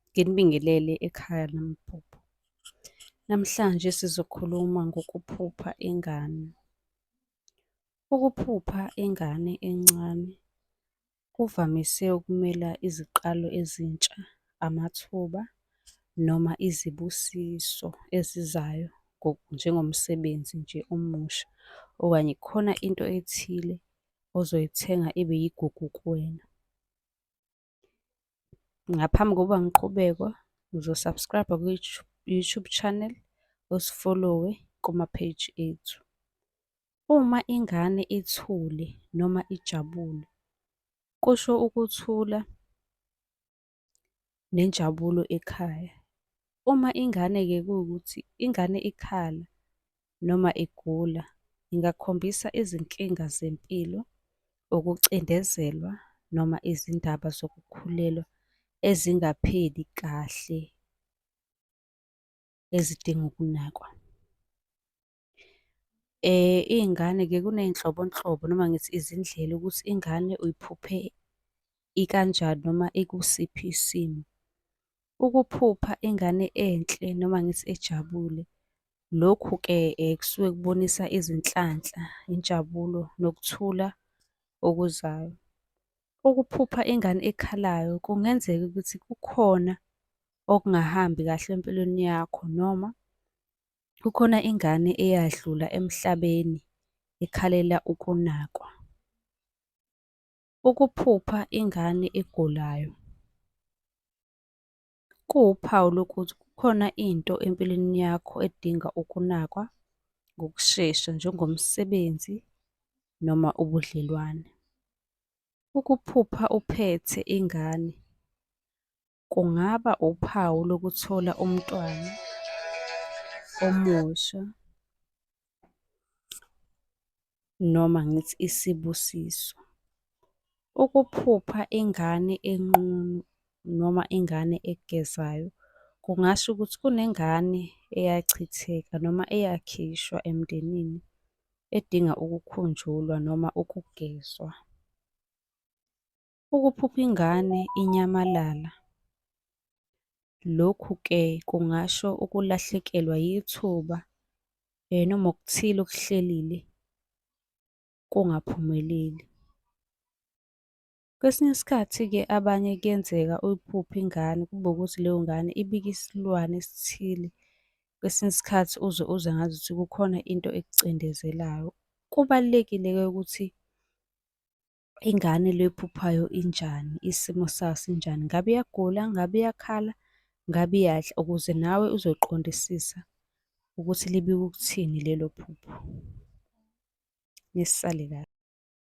Nginibingelele ekhaya lamaphupho. Namhlanje sizokhuluma ngokuphupha ingane. Ukuphupha ingane encane kuvamise ukumela iziqalo ezintsha, amathuba noma izibusiso ezizayo njengomsebenzi nje omusha okanye khona into ethile ozoyithenga ibe yigugu kuwena. Ngaphambi kokuba ngiqhubekwa ngizosubscribe kwi-YouTube channel usifollowe kuma-page ethu. Uma ingane ithule noma ijabule kusho ukuthula nenjabulo ekhaya. Uma ingane-ke kuwukuthi ingane ikhala noma igula, ingakhombisa izinkinga zempilo, ukucindezelwa noma izindaba zokukhulelwa ezingapheli kahle ezidinga ukunakwa. Iy'ngane-ke kuney'nhlobonhlobo noma ngithi izindlela ukuthi ingane uyiphuphe ikanjani noma ikusiphi isimo. Ukuphupha ingane enhle noma ngithi ejabule, lokhu-ke kusuke kubonisa izinhlanhla, injabulo nokuthula okuzayo. Ukuphupha ingane ekhalayo kungenzeka ukuthi kukhona okungahambi kahle empilweni yakho noma Kukhona ingane eyadlula emhlabeni ikhalela ukunakwa. Ukuphupha ingane egulayo kuwuphawu lokuthi kukhona into empilweni yakho edinga ukunakwa ngokushesha njengomsebenzi noma ubudlelwane. Ukuphupha uphethe ingane kungaba uphawu lokuthola umntwana omusha noma ngithi isibusiso. Ukuphupha ingane enqunu noma ingane egezayo kungasho ukuthi kunengane eyachitheka noma eyakhishwa emndenini edinga ukukhunjulwa noma ukugezwa. ukuphupha ingane inyamalala. Lokhu ke kungasho ukulahlekelwa yithuba eh, noma okuthile okuhlelile kungaphumeleli. Kwesinye isikhathi-ke abanye kuyenzeka uyiphuphe ingane kube ukuthi leyo ngane ibike isilwane esithile. Kwesinye isikhathi uze uze ngazuthi kukhona into ekucindezelayo. Kubalulekile-ke ukuthi ingane le ephuphayo injani, isimo sayo sinjani, ngabe iyagula, ngabe iyakhala, ngabe iyadla, ukuze nawe uzoqondisisa ukuthi libika ukuthini lelo phupho. Nisale kahle.